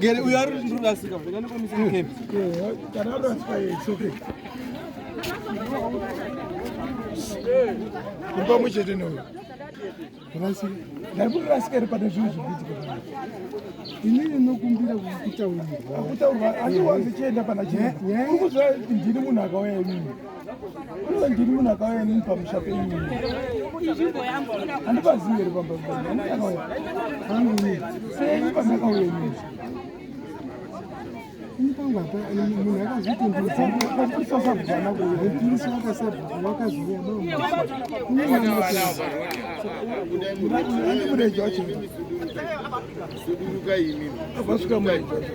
Gere uyo ari ndiri rasika ndanga ndikomisa camp. Kana ari rasika it's okay. Kuri pamwe chete neuyo. Rasika. Ndari kuri rasika iri pane zvinhu zvikuitika. Ini ndinokumbira kukutaurira. Kutaurwa asi wanzi chienda pana chii. Uri kuziva ndini munhu akauya imini. ndiri munhu akauya inini pamusha penyu handibazivi here pambaakauya sei pandakauya inini munhu akazvitondizaaisasabvana kuaisa wakazouya mureji wacho vasvika mureji wacho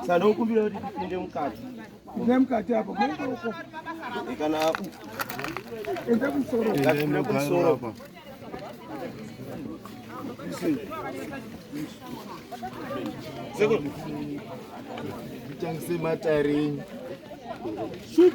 Saka ndokumbira kuti tipinde mukati. Inde mukati apo. Kana apo. Inde kumusoro. Inde kumusoro apo. Seko. Changise matarini. Shoot.